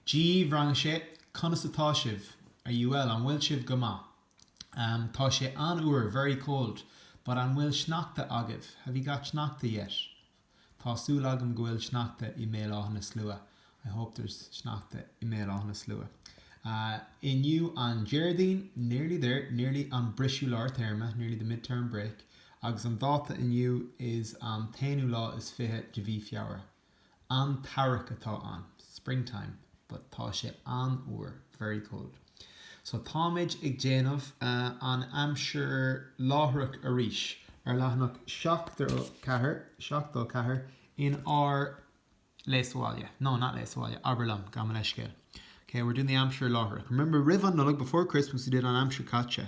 Dia dhaoibh rang a sé, Conas atá sibh? Are you well? An bhfuil sibh go maith? Am, Tá sé an-fhuar Very cold But An bhfuil sneachta agaibh? Have you got sneachta yet? Tá súil agam go bhfuil sneachta i mBéal Átha na Slua I hope there's sneachta i mBéal Átha na Slua inniu An Déardaoin Nearly there, nearly An briseadh lár téarma Nearly the mid-term break Agus an dáta inniu is an t-aonú lá is fiche de mhí Feabhra. An t-earrach atá ann. Springtime. But tá sé an-fhuar. Very cold. So táimid ag déanamh an aimsir láithreach arís ar leathanach 74, 74 in ár Léigh sa Bhaile. No, not Léigh sa Bhaile. Abair liom. Gabh mo leithscéal. Okay, we're doing the aimsir láithreach. Remember, roimh an Nollaig, before Christmas, we did an aimsir chaite.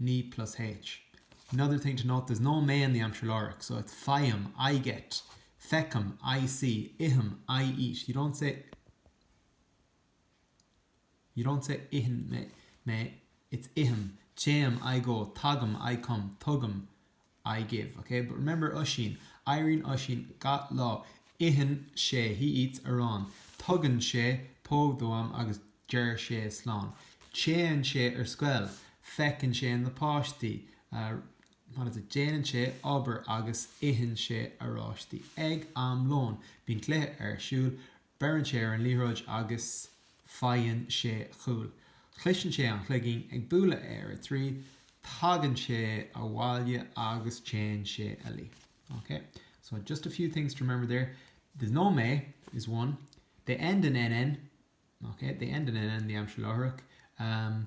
ní plus H. Another thing to note, there's no mé in the Aimsir Láithreach, so it's faighim, I get, feicim, I see, ithim, I eat. You don't say You don't say itheann mé, it's ithim, téim, I go, tagaim, I come, tugaim, I give, ok? But remember Oisín, éiríonn Oisín gach lá, itheann sé, he eats, arán, tugann sé póg dom agus deir sé slán, téann sé ar scoil, feiceann sé na páistí, what is it, déanann sé obair agus itheann sé oráistí ag am lóin, bíonn cluiche ar siúl, Beireann sé ar an liathróid agus faigheann sé cúl. Cloiseann sé an cloigín ag bualadh ar a trí, tagann sé abhaile agus téann sé a luí. Ok, so just a few things to remember there, there's no mé is one, they end in nn, ok, they end in nn, the aimsir láithreach,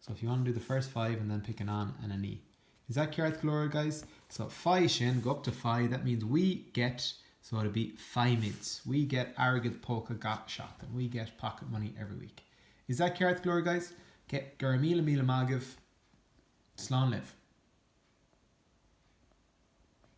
So if you want to do the first five and then pick an an and an í. Is that ceart go leor guys? So faigh sin, go up to faigh, that means we get, so it'll be faighimid, we get airgead póca gach seachtain, we get pocket money every week. Is that ceart go leor guys? Ok, go raibh míle míle maith agaibh. Slán libh.